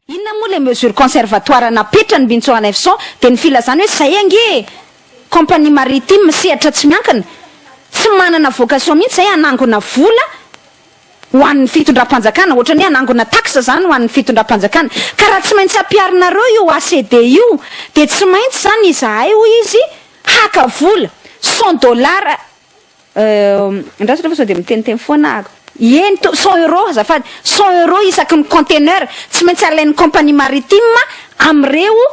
Inona moa ilay mesure conservatoire napetrany Bincho Hanefson dia ny filazany hoe izay ange e! Compagnie maritime sehatra tsy miankina, tsy manana vocation mihitsy izay hanangona vola, ho an'ny fitondram-panjakana, ohatra ny hoe hanangona taxe izany ho an'ny fitondram-panjakana, ka raha tsy maintsy ampiharinareo io ACD io dia tsy maintsy izany izahay hoy izy haka vola, cent dollars, euh, andraso refa sao dia miteniteny foana aho, eny to, cent euros azafady, cent euros isaky ny container, tsy maintsy alain'ny compagnie maritime amin'ireo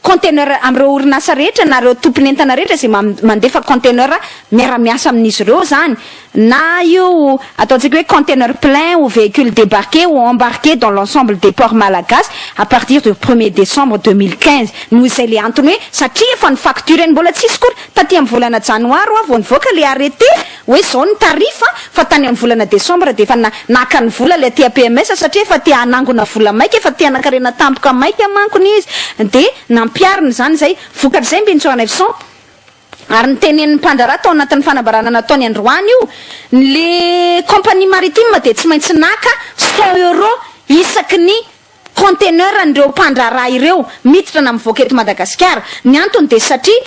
Container amin'ireo orinasa rehetra na ireo tompon'entana rehetra izay mandefa container miara-miasa amin'izy ireo izany na io ataontsika hoe container plein ou véhicule débarqué ou embarqué dans l'ensemble des ports malagasy à partir du premier décembre deux mille quinze noho izay ilay antony hoe satria efa ny facture-ny mbola tsy hisy akory taty amin'ny volana janoary hoa vao nivoaka ilay arrêté hoe izao ny tarif fa tany amin'ny volana desambra dia efa naka ny vola ilay TAPMS satria efa te hanangona vola maika, efa te hanakarena tampoka maika manko ny izy dia nampiharina izany izay vokatra izay Mbincho Hanefson ary ny tenenin'ny mpandraharaha tao anatin'ny fanambarana nataony androany io ny compagnie maritime dia tsy maintsy naka cent euro isaky ny conteneur an'ireo mpandraharaha ireo miditra na mivoaka eto Madagasikara, ny antony dia satria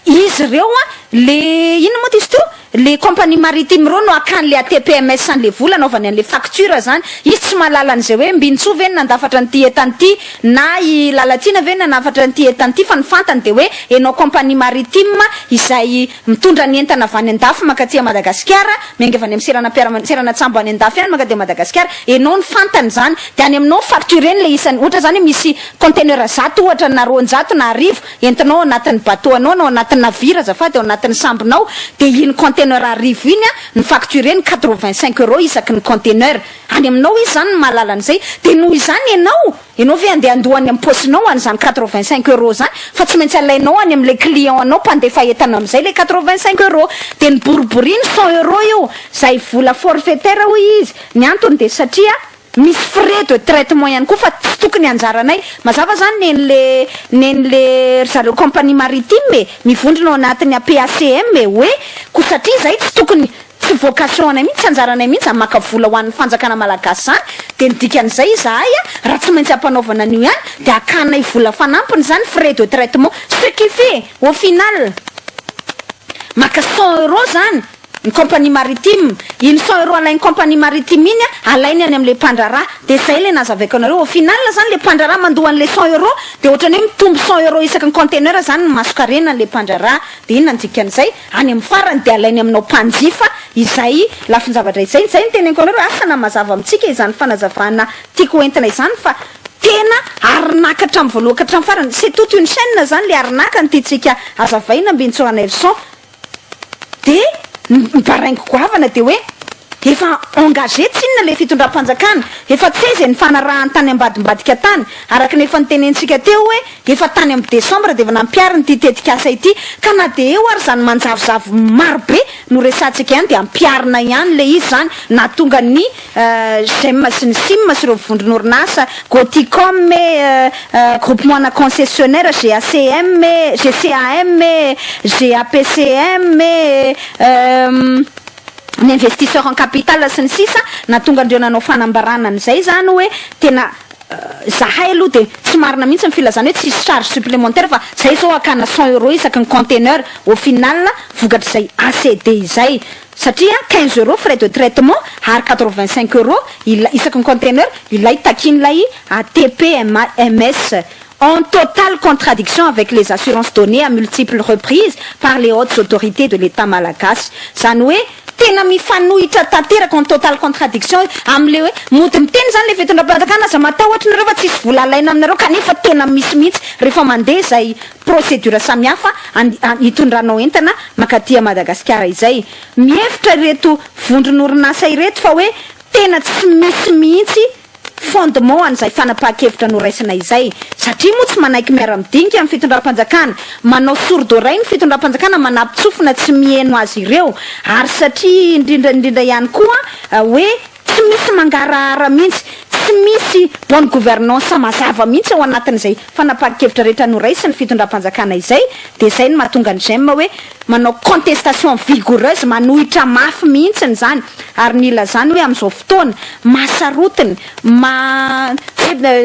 Izy ireo an, le inona moa ty izy teo? le compagnie maritime ireo no akany le ATPMS an'le vola anaovany an'le facture zany, izy tsy mahalala an'izay hoe Mbinintsoa ve no nandafatra an'ity entana ity na i Lalatiana ve no nanafatra an'ity entana ity fa ny fantany dia hoe enao compagnie maritime izay mitondra ny entana avy any andafy mankaty a Madagasikara miainga avy any amin'ny seranam-piaramanidina seranantsambo any andafy any mankaty a Madagasikara enao no fantany zany dia any aminao no factureny le isany ohatra zany hoe misy container zato ohatra na roanjato na arivo entinao ao anatin'ny bateau anao na ao anatin'ny navire azafady, ao anatin'ny sambonao, dia iny container arivo iny an, ny facture ny quatre vingt cinq euros isaky ny container, any aminao izy izany ny mahalala an'izay, dia noho izany ianao, ianao ve andeha handoa any amin'ny paosinao an'izany quatre vingt cinq euros izany fa tsy maintsy alainao any amin'ilay client anao mpandefa entana amin'izay ilay quatre vingt cinq euros, dia ny boriboriny cent euros io, izay vola forfaitaire hoy izy, ny antony dia satria. Misy frais de traitement ihany koa fa tsy tokony anjaranay. Mazava zany nenle nenle ry zareo compagnie maritime e, mivondrona ao anatin'ny APACM e, hoe ko satria zay tsy tokony, tsy vocation anay mihitsy, tsy anjaranay mihitsy zany maka vola ho an'ny fanjakana malagasy zany, dia ny dikan'izay izahay a, raha tsy maintsy ampanaovana an'io ihany dia akanay vola fanampiny zany frais de traitement, ce qui fait au final maka cent euros zany, ny compagnie maritime, iny cent euros alain'ny compagnie maritime iny an, alainy any amin'ilay mpandraharaha, dia izay ilay nazavaiko anareo, au final izany ilay mpandraharaha mandoa an'ilay cent euros, dia ohatran'ny hoe mitombo cent euros isaky ny container izany ny mason-karenan'ilay mpandraharaha, dia inona ny dikan'izay? any amin'ny farany dia alainy aminao mpanjifa izay lafin-javatra izay, izay no teneniko anareo hoe asa na mazava amintsika izany fanazavana tiako ho entina izany fa tena arnaque hatramin'ny voalohany ka hatramin'ny farany, c'est toute une chaine izany ilay arnaque no tiantsika hazavaina Ambinintsoa Raneuvison, Dia ny ny baraingo goavana dia hoe efa engagé tsinona ilay fitondram-panjakana, efa tsy hay izay nifanarahany tany ambadimbadika tany, araka ny efa notenentsika teo hoe efa tany amin'ny desambra dia efa nampihariny ity tetikasa ity, ka na dia eo ary izany manjavozavo marobe no resahantsika ihany dia ampiharina ihany ilay izy izany nahatonga ny Gem sy ny Sim sy ireo vondron'orinasa, Gothicom e, Groupement ana Concessionnaire, GACM e, GCAM e, GAPCM e, ny investisseurs en capital sy ny sisa Nahatonga an'ireo nanao fanambarana an'izay izany hoe tena Izahay aloha dia tsy marina mihitsy ny filazana hoe tsisy charge supplémentaire fa izay izao hakana cent euros isaky ny container, au final vokatr'izay ACD izay satria quinze euros frais de traitement ary quatre vingt cinq euros ilay isaky ny container ilay takian'ilay ATPMS en totale contradiction avec les assurances données à multiples reprises par les hautes autorités de l'Etat malagasy izany hoe tena mifanohitra tanteraka en totale contradiction amin'ilay hoe mody miteny izany ilay fitondram-panjakana aza matahotra nareo fa tsisy vola alaina aminareo kanefa tena misy mihitsy rehefa mandeha izay procédure samihafa hitondranao entana mankaty à Madagasikara izay. Mihevitra ireto vondron'orinasa ireto fa hoe tena tsy misy mihitsy fondement an'izay fanapahan-kevitra noraisina izay satria moa tsy manaiky miara-midinika ny fitondram-panjakana, manao sourd oreille ny fitondram-panjakana manapitsofina tsy miheno azy ireo ary satria indrindra indrindra ihany koa hoe. Tsy misy mangarahara mihitsy, tsy misy bonne gouvernance mazava mihitsy ao anatin'izay fanapahan-kevitra rehetra noraisin'ny fitondram-panjakana izay, dia izay no mahatonga an'i J'aime hoe manao contestation vigoureuse, manohitra mafy mihitsy izany, ary ny ilazany hoe amin'izao fotoana mahasarotiny, maha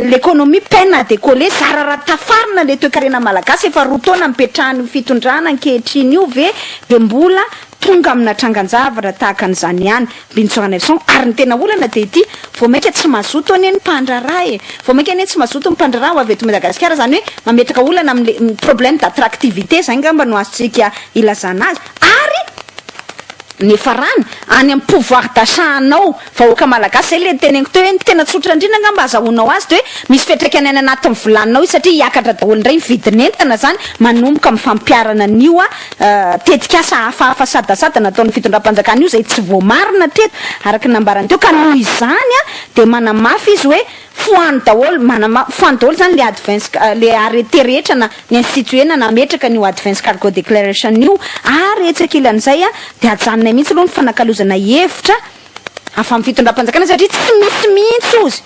l'économie peine à décoller, zara raha tafarina ilay toekarena malagasy, efa roa taona nipetrahan'io fitondrana ankehitriny io ve dia mbola tonga amina trangan-javatra tahaka an'izany ihany Binchoir Nelson ary ny tena olana dia ity vao mainka tsy mazoto anie ny mpandraharaha e! vao mainka anie tsy mazoto ny mpandraharaha ho avy eto Madagasikara izany hoe mametraka olana amin'ilay problème d'attractivité izay angamba no azontsika ilazana azy ary ny farany any amin'ny pouvoir d'achat anao Vahoaka malagasy zay le teneniko teo hoe ny tena tsotra indrindra angamba azahoanao azy de hoe misy fiatraikany any anatin'ny volaninao io satria hiakatra daholo indray ny vidin'entana zany manomboka amin'ny fampiharana an'io tetikasa hafahafa sadasada nataon'ny fitondram-panjakana io zay tsy voamarina hatreto araka ny nambarany teo ka noho izany de manamafy izy hoe foano daholo manamafy foano daholo zany le advance le arrêté rehetra na ny institué na nametraka an'io advance cargo declaration io ary etsy ankilan'izay de ajanonay mihitsy aloha ny fanakalozana hevitra avy amin'ny fitondram-panjakana satria tsy misy mihitsy ozy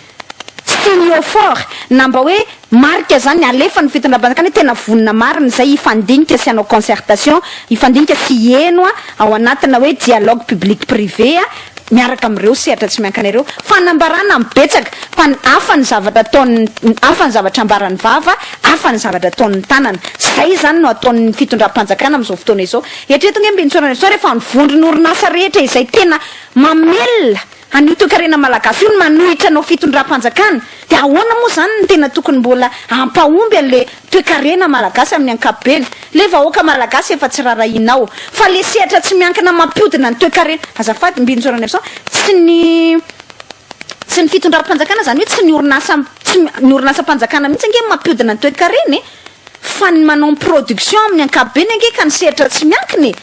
tsy teny Haut-Fort na mba hoe marika zany alefan'ny fitondram-panjakana hoe tena vonona marina izay hifandinika sy hanao concertation, hifandinika sy hiheno a, ao anatina hoe dialogue public privé a, miaraka amin'ireo sehatra tsy miankina ireo. Fanambarana amin'ny betsaka fa ny hafa ny zavatra ataon'ny hafa ny zavatra ambaran'ny vava, hafa ny zavatra ataon'ny tanana. Izay izany no ataon'ny fitondram-panjakana amin'izao fotoana izao. Eritrereto ange Mbintsora Nestor hoe fa ny vondron'orinasa rehetra izay tena mamelona an'io toekarena malagasy io no manohitra anao fitondram-panjakana dia ahoana moa izany no tena tokony mbola hampahomby an'ilay toekarena malagasy amin'ny ankapobeny? Ilay vahoaka malagasy efa tsy rarahianao fa ilay sehatra tsy miankina mampiodina ny toekarena azafady Mbintsora Nestor tsy ny tsy ny fitondram-panjakana izany hoe tsy ny orinasa tsy ny orinasam-panjakana mihitsy ange no mampiodina ny toekarena e! Fa ny manao production amin'ny ankapobeny ange ka ny sehatra tsy miankina e!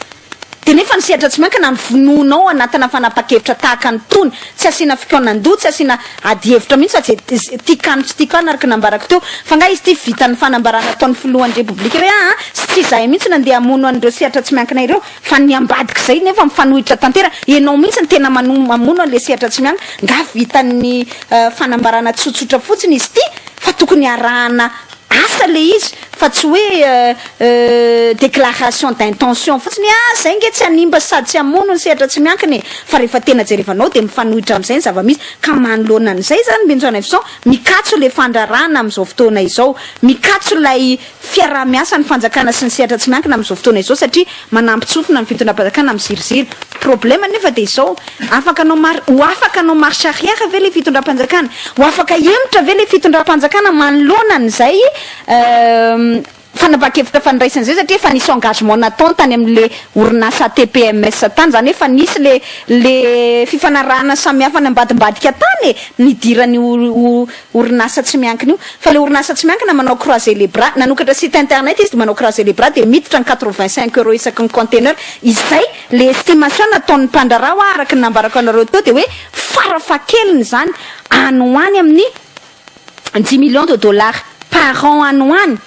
Dia nefa ny sehatra tsy miankina no vonoina ao anatina fanapahan-kevitra tahaka ny tony, tsy asiana fikaonan-doha, tsy asiana ady hevitra mihitsy fa izay tiako any tsy tiako any araka ny nambarako teo. Fa nga izy ity vita ny fanambarana ataon'ny filohan'ny repoblika hoe aa sy tsy izahay mihitsy no andeha hamono an'ireo sehatra tsy miankina ireo fa ny ambadik'izay nefa mifanohitra tanteraka, ianao mihitsy no tena mamono an'ilay sehatra tsy miankina, nga vitan'ny fanambarana tsotsotra fotsiny izy ity fa tokony harahana Asa le izy fa tsy hoe déclaration d'intention fotsiny hoe ah zay nge tsy hanimba sady tsy hamono ny sehatra tsy miankina e! fa rehefa tena jerevanao dia mifanohitra amin'izay ny zava-misy ka manoloana an'izay izany Benjaonaivoson mikatso ilay fandrarahana amin'izao fotoana izao, mikatso ilay fiaraha-miasa ny fanjakana sy ny sehatra tsy miankina amin'izao fotoana izao satria Manampy tsofina ny fitondram-panjakana amin'ny ziriziry. Problème nefa dia izao, afaka hanao mar- ho afaka hanao marche arrière ve ilay fitondram-panjakana? Ho afaka hihemotra ve ilay fitondram-panjakana manoloana an'izay fanapahan-kevitra fandraisana izay? Satria efa nisy engagement natao tany amin'ilay orinasa ATPMS tany, izany hoe efa nisy ilay ilay fifanarahana samihafa nambadimbadika tany e, nidiran'ny orinasa tsy miankina io fa le orinasa tsy miankina manao croiser les bras nanokatra site internet izy de manao croiser les bras de miditra ny quatre vingt cinq euros isaky ny container izay le estimation nataon'ny mpandraharaha hoa araka ny nambarako anareo teo de hoe fara fahakeliny izany any ho any amin'ny dix millions de dollars par an any ho any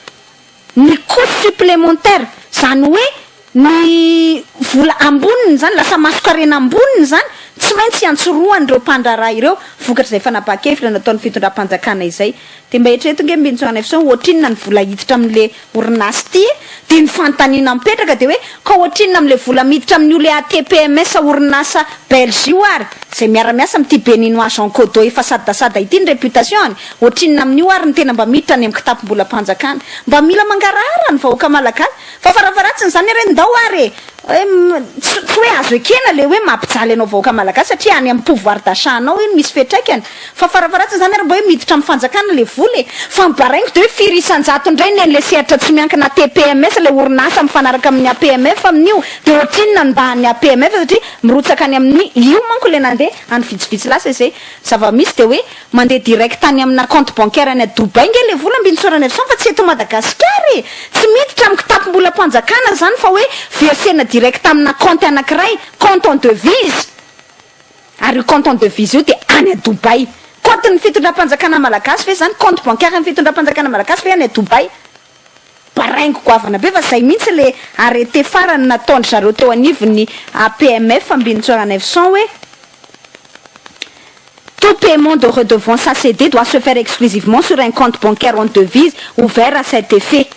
Ny coût supplémentaire, izany hoe ny vola amboniny izany, lasa masonkarena amboniny izany, tsy maintsy iantsorohan'ireo mpandraharaha ireo, vokatr'izay fanapahan-kevitra nataon'ny fitondram-panjakana izay. Dia mba eritrereto ange Mbincho Nefson, ohatrinona ny vola hiditra amin'ilay orinasa ity e? Dia ny fanontaniana mipetraka dia hoe, ka ohatrinona amin'ilay vola miditra amin'io le ATPMS orinasa Belge io ary, izay miara-miasa amin'ity Beninois Jean Kodo efa sadasada ity ny réputation-ny? Ohatrinona amin'io ary ny tena mba miditra any amin'ny kitapom-bolam-panjakana? Mba mila mangarahara ny vahoaka malagasy fa farafaharatsiny izany ary ndao ary e! Tsy hoe azo ekena ilay hoe mampijaly anao vahoaka malagasy satria any amin'ny pouvoir d'achat anao iny misy fiatraikany fa farafaharatsiny izany ary mba hoe miditra amin'ny fanjakana ilay vola e! Fa ny baraingo dia hoe firy isan-jato indray ny an'ilay sehatra tsy miankina ATPMS ilay orinasa mifanaraka amin'ny APMF amin'io dia ohatrinona ny mba an'ny APMF satria mirotsaka any amin'ny io manko ilay nandeha any vitsivitsy lasa izay zava-misy dia hoe Mandeha direct any amina compte bancaire any à Dubaï nge le vola mbin tsorany avy sany fa tsy eto Madagascar e! Tsy miditra am kitapo mbola panjakana zany fa hoe versena direct amina compte anakiray, compte en devise! Ary io compte en devise io dia any à Dubaï! Compte ny fitondram panjakana malagasy ve zany? Compte bancaire ny fitondram panjakana malagasy ve any à Dubaï? Baraingo goavana be fa zay mihintsy le arrêté farany nataondry zareo teo anivon'ny APMF Ambinintsoaranaivoson hoe tout paiement de redevance à ceder doit se faire exclusivement sur un compte bancaire en devise ouvert à cet effet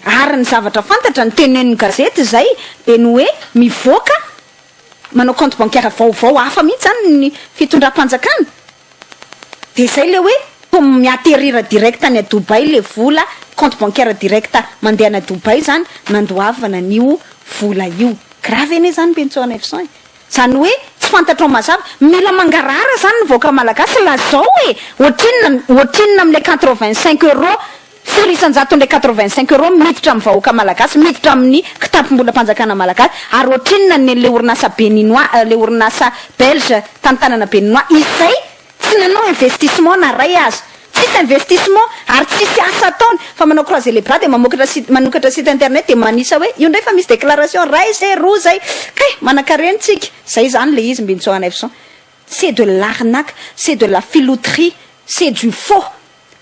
ary ny zavatra fantatra ny tenenin'ny gazety zay de ny hoe mivoaka manao compte bancaire vaovao hafa mihintsy zany ny fitondram-panjakana Dia zay le hoe comme mi-atterrir direct any à Dubaï le vola, compte bancaire direct mandeha any à Dubaï zany nandoavana an'io vola io. Grave anie zany Bentso Neufcent e! Zany hoe tsy fantatrao mazava. Mila mangarahara zany ny vahoaka malagasy lazao e! Ohatrinona, ohatrinona amle quatre-vingt-cinq euros? Sary isan-jatony le quatre-vingt-cinq euros miditra amin'ny vahoaka malagasy, miditra amin'ny kitapom-bolam-panjakana malagasy, ary ohatrinona ny an'ilay orinasa beninois, ilay orinasa belge tany tanana beninois izay tsy nanao investissement na iray aza. Tsisy investissement ary tsisy asa ataony fa manao croisé les bras dia mamokatra site, manokatra site internet dia manisa hoe io indray fa misy déclaration iray izay, roa izay. Kay, manankarena tsika. Izay izany ilay izy Mbintsora Neufson. C'est de l'arnaque, c'est de la filouterie, c'est du faux.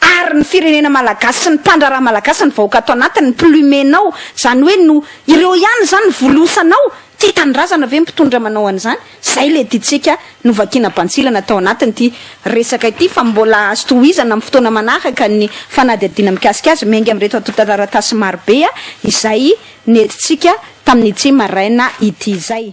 Ary ny firenena malagasy sy ny mpandraharaha malagasy ny vahoaka ato anatiny ny plumenao zany hoe no ireo ihany zany ny volosanao ty tanindrazana ve ny mpitondra manao an'izany zay le tiantsika novakina bantsilana tao anatiny ty resaka ity fa mbola azo tohizana am fotoana manaraka ny fanadihadiana mikasika azy miainga amreto antotataratasy marobe izay nentintsika tamin'ity maraina ity zay.